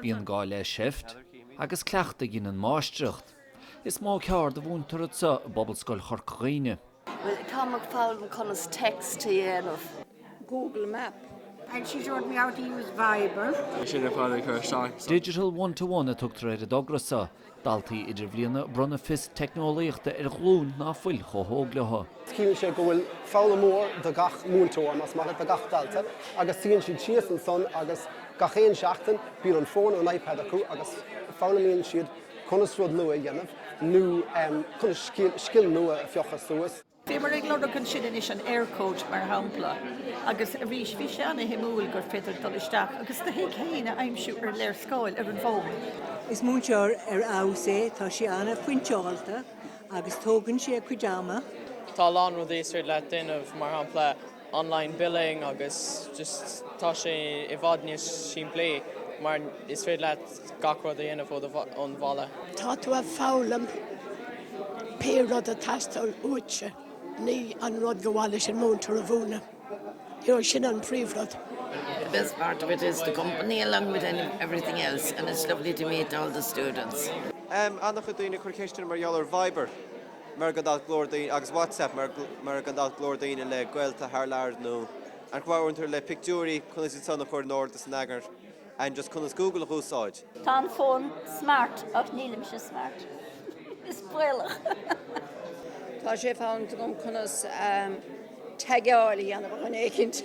Bíonn gá le seift agus cleachtadh a dheineann máistreacht. Is mó ceárd a mhúintear anso i bPobalscoil Chorca Dhuibhne. Bhuel, táim ag foghlaim conas text a dhéanamh. Google map. And she showed me how to use Viber. Digital one-to-one a tugtar ar an dtogra so. Daltaí idirbhliana ag bronnadh fios teicneolaíochta ar ghlúin ná fuil chomh hóg leo. Ciallaíonn sé go bhfuil foghlaimeoir do gach múinteoir, más maith leat, do gach dalta agus suíonn siad síos ansan agus gach aon seachtain bíonn an fón nó an iPad acu agus foghlaimíonn siad conas rud nua a dhéanamh nó conas scil nua a phiocadh suas. Bhíomar ag lorg ansin anois an Eircode, mar shampla, agus arís bhí sé an-shuimiúil gur féidir dul isteach agus do thigh fhéin a aimsiú ar léarscáil ar an bhfón. Is múinteoir ar fheabhas é, tá sé an-phointeáilte agus tógann sé a chuid ama. Tá a lán rudaí is féidir leat déanamh, mar shampla. online billing agus just tá sé i bhfad níos simplí mar is féidir leat gach rud a dhéanamh ó do, ón bhaile. Tá tú ag foghlaim pé rud a teastáil uaitse, ní an rud gur mhaith leis an múinteoir a mhúineadh. You know, sin an príomhrud. The best part of it is the company along with any, everything else and it's lovely to meet all the students. Ana chuid daoine ag cur ceisteanna mar gheall ar Viber. Mar gan dabht go leor daoine, agus WhatsApp, mar gan dabht go leor daoine le gaolta thar lear nó an chomh amhantar le pictiúirí, conas iad san a chur in ord is in eagar and just conas Google a úsáid. Tá an fón smart ach nílimse smart. Is baolach. Tá sé fonn agam conas taggeáil a dhéanamh ó dhuine éicint.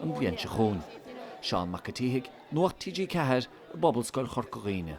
an bhliain seo chugainn. Seán Mac an tSíthigh, Nuacht TG4 i bPobalscoil Chorca Dhuibhne.